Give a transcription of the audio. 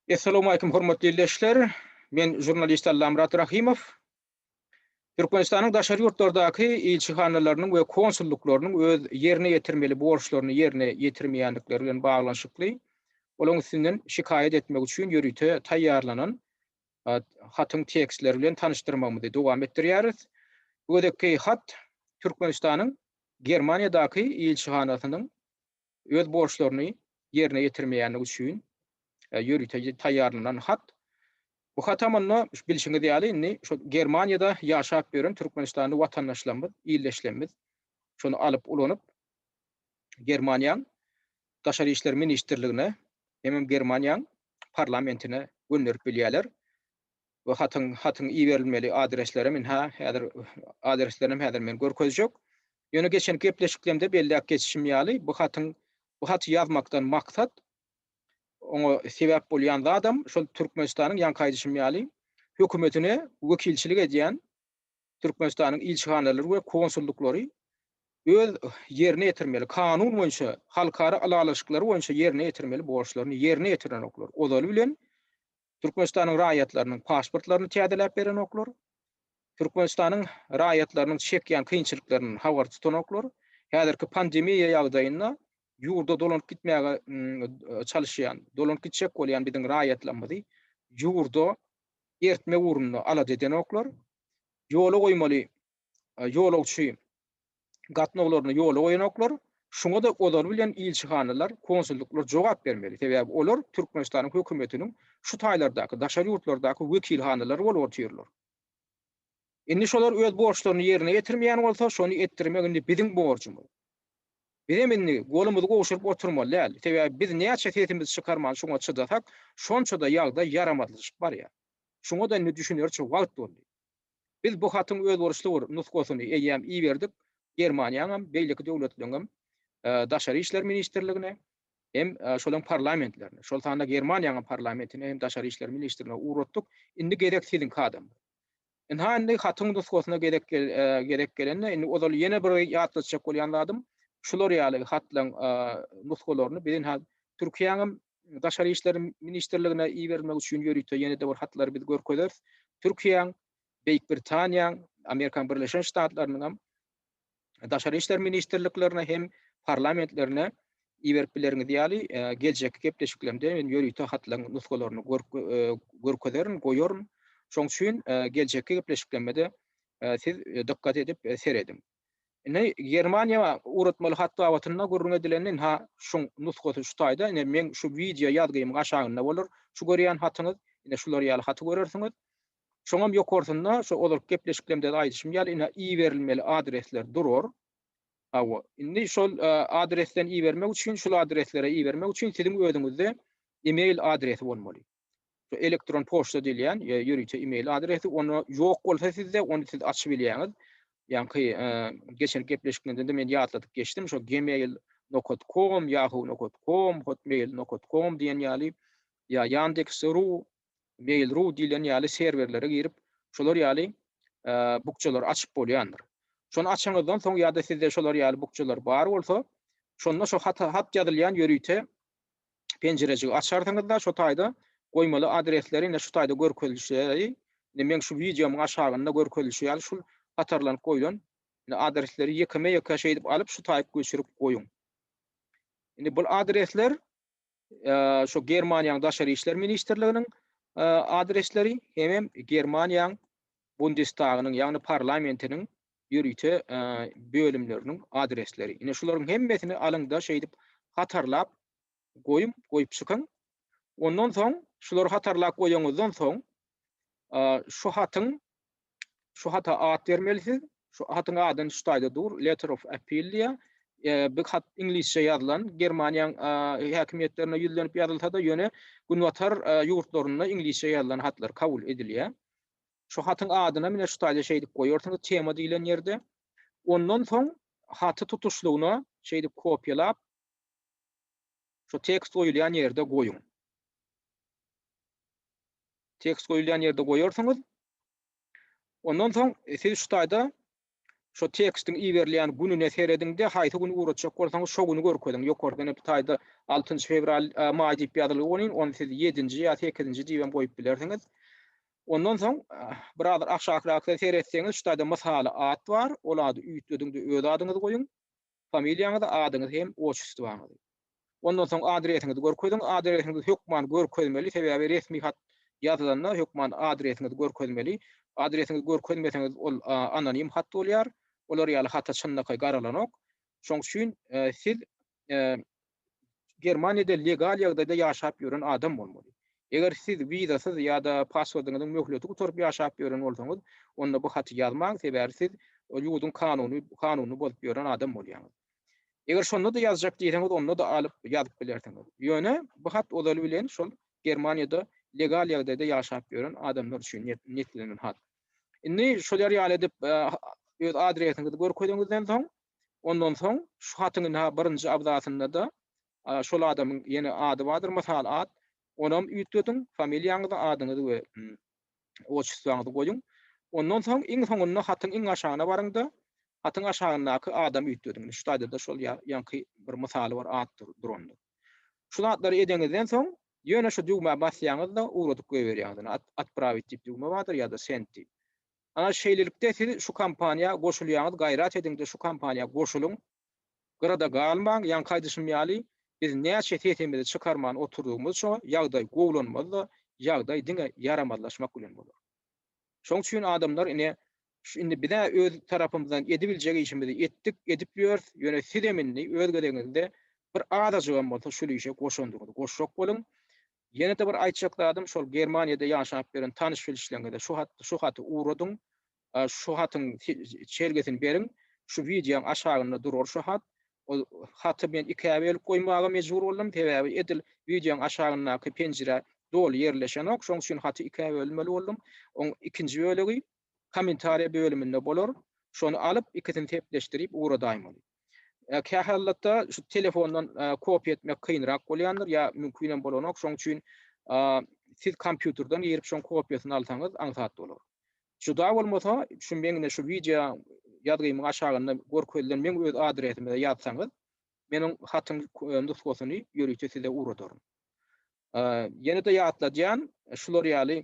Essalawmaleýkum hormatly ildeşler! Men žurnalist Allamyrat Rahymow. Türkmenistanyň daşary ýurtlardaky ilçihanalarynyň we konsullyklarynyň öz ýerine ýetirmeli borçlaryny ýerine ýetirmeýändikleri bilen baglanyşykly olaryň üstünden şikaýat etmek üçin ýörite taýýarlanan hatyň tekstleri bilen tanyşdyrmagymyzy dowam etdirýäris. Bu gezekki hat Türkmenistanyň Germaniýadaky ilçihanasynyň öz borçlaryny ýerine ýetirmeýänligi üçin ýörite taýýarlanan hat. Bu hata mundan, bilşiňiz ýaly, indi şu Germaniýada ýaşap ýören türkmenistanly watandaşlarymyz, ildeşlerimiz şony alyp ulanyp, Germaniýaň Daşary işler ministrligine hemem Germaniýaň parlamentine gönderip bilýärler. Bu hatyň hatyň iberilmeli adreslerem ynha häzir adreslerem häzir men görkezjek. Ýöne geçenki gepleşiklemde belläp geçişim ýaly bu hatyň bu haty ýazmakdan maksat oňa sebäp bolýan zadam şol Türkmenistanyň ýaňky aýdyşym ýaly hökümetine wekilçilik edýän Türkmenistanyň ilçihanalary we konsullyklary öz ýerine ýetirmeli kanun boýunça halkara ylalaşyklary boýunça ýerine ýetirmeli borçlaryny ýerine ýetirenoklar ozaly bilen Türkmenistanyň raýatlarynyň pasportlaryny täzeläp berenoklar, Türkmenistanyň raýatlarynyň çekýän kynçylyklaryndan habar tutanoklar, häzirki pandemiýa ýagdaýynda ýurda dolanyp gitmäge çalyşýan, dolanyp gitjek bolýan biziň raýatlarymyzy ýurda ertmek ugrunda alada edenoklar, ýola goýmaly ýolagçy gatnawlaryny ýola goýanoklar, şuňa-da olar bilen ilçihanalar, konsullyklar jogap bermeli, sebäbi olar Türkmenistanyň hökümetiniň şu taýlardaky, daşary ýurtlardaky wekilhanalary bolup otyrlar. Indi şolar öz borçlaryny ýerine ýetirmeýän bolsa, şony etdirmek indi biziň borjumyz. Bizem indi golumyzy gowşuryp oturmaly däl, sebäbi biz näçe sesimizi çykarman şuňa çydasak, şonça-da ýagdaý ýaramazlaşyp barýar. Şuňa-da indi düşünerçe wagt boldy. Biz bu hatyň özboluşly bir nusgasyny eýýäm iberdik Germaniýaňam, beýleki döwletleriňem Daşary işler ministrligine hem şolaryň parlamentlerine, şol sanda Germaniýaňam parlamentine hem Daşary işler ministrine ugratdyk. Indi gezek siziňki adam. Ynha indi hatyň nusgasyna gezek gezek gelende indi ozal ýene bir ýatlatjak bolýan zadym, şular ýaly hatlaryň nusgalaryny biz ynha Türkiýäňem Daşary işler ministrligine iberilmegi üçin ýörite ýene-de bir hatlary biz görkezeris. Türkiýäň, Beýik Britaniýaň, Amerikanyň Birleşen Ştatlarynyň hem Daşary işler ministrliklerine hem parlamentlerine iberip bileriniz ýaly geljekki gepleşiklerimde men ýörite hatlaryň nusgalaryny görkezerin, goýaryn. Şoň üçin geljekki gepleşiklerimde siz dykgat edip serediň. Ine, Germaniýa ugratmaly hat babatynda gürrüň edilende, ynha, şuň nusgasy şu taýda, ine, meň şu wideo ýazgymyň aşagynda bolar şu görýän hatyňyz, ine, şular ýaly haty görersiňiz. Şoňam ýokarsynda, şu ozalky gepleşiklerimde-de aýdyşym ýaly, ine, iberilmeli adresler durar. Hawa, indi şol adresden ibermek üçin, şul adreslere ibermek üçin siziň özüňizde e-mail adresi bolmaly. şu elektron poçta diýilýän ýa ýörite email adresi onda ýok bolsa sizde ony siz açyp bilýäňiz. Ýaňky geçen gepleşikimizde de men ýatladyp geçdim şu gmail nokat kom yahoo nokat kom hotmail nokat kom diýen ýaly ýa yandex ru mail ru diýlen ýaly serwerlere girip şolar ýaly bukjalary açyp bolýandyr şony açanyňyzdan soň ýa-da sizde şolar ýaly bukjalar bar bolsa şonda şu hat hat ýazylýan ýörite penjirejigi açarsyňyzda şo taýda goýmaly adresleri ine şu taýda görkezilişleri ine meň şu wideomyň aşagynda görkezilişi ýaly şul hatarlanyp goýlan ine adresleri ýekeme ýeke şeýdip alyp şu taýyp göçürip goýuň. Indi bul adresler şu Germaniýaň daşary işler ministrliginiň adresleri hemem Germaniýaň Bundestagynyň ýagny parlamentiniň ýörite bölümleriniň adresleri. Ine şularyň hemmesini alyňda şeýdip hatarlap goýuň, goýup çykyň. Ondan soň şulary hatarlap goýanyňyzdan soň şu hatyň şu hata at bermelisiz. Şu hatyň adyny şu taýda dur, letter of appeal diýýär. Bu hat iňlisçe ýazylan, Germaniýaň häkimiýetlerine ýüzlenip ýazylsa-da, ýöne günbatar ýurtlarynda iňlisçe ýazylan hatlar kabul edilýär. Şu hatyň adynam ine şu taýda şeýdip goýarsyňyz tema diýlen ýerde. Ondan soň haty tutuşlygyna şeýdip kopýalap şu tekst goýulýan ýerde goýuň. Tekst goýulýan ýerde goýarsyňyz. Ondan soň siz şu taýda Şo tekstiň iberilýän gününe serediň-de, haýsy güni ugratjak bolsaňyz, şo güni görkeziň. Ýokarda ene bu taýda altynjy fewral, maý diýip ýazylyp welin, ony siz ýedinji ýa sekizinji diýibem goýup bilersiňiz. Ondan soň, birazar aşakyrakda seretseňiz, şu taýda mysaly at bar. Ol ady üýtgediň-de öz adyňyzy goýuň. Familiýaňyzy, adyňyzy hem oçestwaňyzy. Ondan soň adresiňizi görkeziň. Adresiňizi hökman görkezmeli, sebäbi resmi hat ýazylanda hökman adresiňizi görkezmeli. Adresiňizi görkezmeseňiz ol anonim hat bolýar. Olar ýaly hata çynlakaý garalanok. Şoň üçin siz Germaniýada legal ýagdaýda ýaşap ýören adam bolmaly. Eger siz wizasyz ýa-da pasportyňyzyň möhleti gutaryp ýaşap ýören bolsaňyz, onda bu haty ýazmaň, sebäbi siz ol ýurduň kanuny kanunyny bozup ýören adam bolýaňyz. Eger şonda-da ýazjak diýseňiz, onda-da alyp ýazyp bilersiňiz. Ýöne bu hat ozaly bilen şol Germaniýada legal ýagdaýda ýaşap ýören adamlar üçin niýetlenen hat. Indi şolar ýaly edip öz adresiňizi görkeziňizden soň, Ondan soň şu hatyň ynha birinji abzasynda-da şol adamyň ýene ady bardyr, mysal at, onam üýtgediň, familiýaňyzy, adyňyzy we otçestwaňyzy goýuň. Ondan soň iň soňunda hatyň iň aşagyna baryň-da, hatyň aşagyndaky adamy üýtgediň. Indi şu taýda-da şol ýaňky bir mysaly bar, at durandyr. Şu zatlary edeňizden soň, ýöne şu düwmä basýaňyz-da, ugradyp goýberýäňiz. Indi Otprawit diýip düwme bardyr ýa-da Send diýip. Ana şeýlelikde siz şu kampaniýa goşulýaňyz gaýrat ediňde şu kampaniýa goşulyň gyrada galmaň ýaňky aýdyşym ýaly biz näçe sesimizi çykarman oturdygymyzça ýagdaý gowulanmazda ýagdaý diňe ýaramazlaşmak bilen bolar şoň üçin adamlar ine şu indi bizä öz tarapymyzdan edibiljek işimizi etdik edip ýörs ýöne sizem indi öz gezegiňizde bir azajygam bolsa şul işe goşandygyňyzy goşjak boluň Ýene-de bir aýtjak zadym, şol Germaniýada ýaşap ýören tanyş-bilişleriňize şu hat, şu haty ugradyň, şu hatyň çelgesini beriň, şu wideoň aşagynda durar şu hat. Ol haty men ikä bölüp goýmaga mejbur boldum, sebäbi edil wideoň aşagyndaky penjire doly ýerleşenok, şonuň üçin haty ikä bölmeli boldum. Oň ikinji bölegi Kommentariýa bölüminde bolar. Şony alyp, ikisini sepleşdirip ugradaýmaly. Kähalatda şu telefondan kopiýa etmek kynrak bolýandyr ýa mümkinem bolanok, şoň üçin siz kompýuterden girip şoň kopiýasyny alsaňyz aňsat bolar. Juda bolmasa, şu meň ine şu wideo ýazgymyň aşagynda görkezilen meň öz adresime ýazsaňyz, men oň hatyň nusgasyny ýörite size ugradaryn. Ýene-de ýatladýan, şular ýaly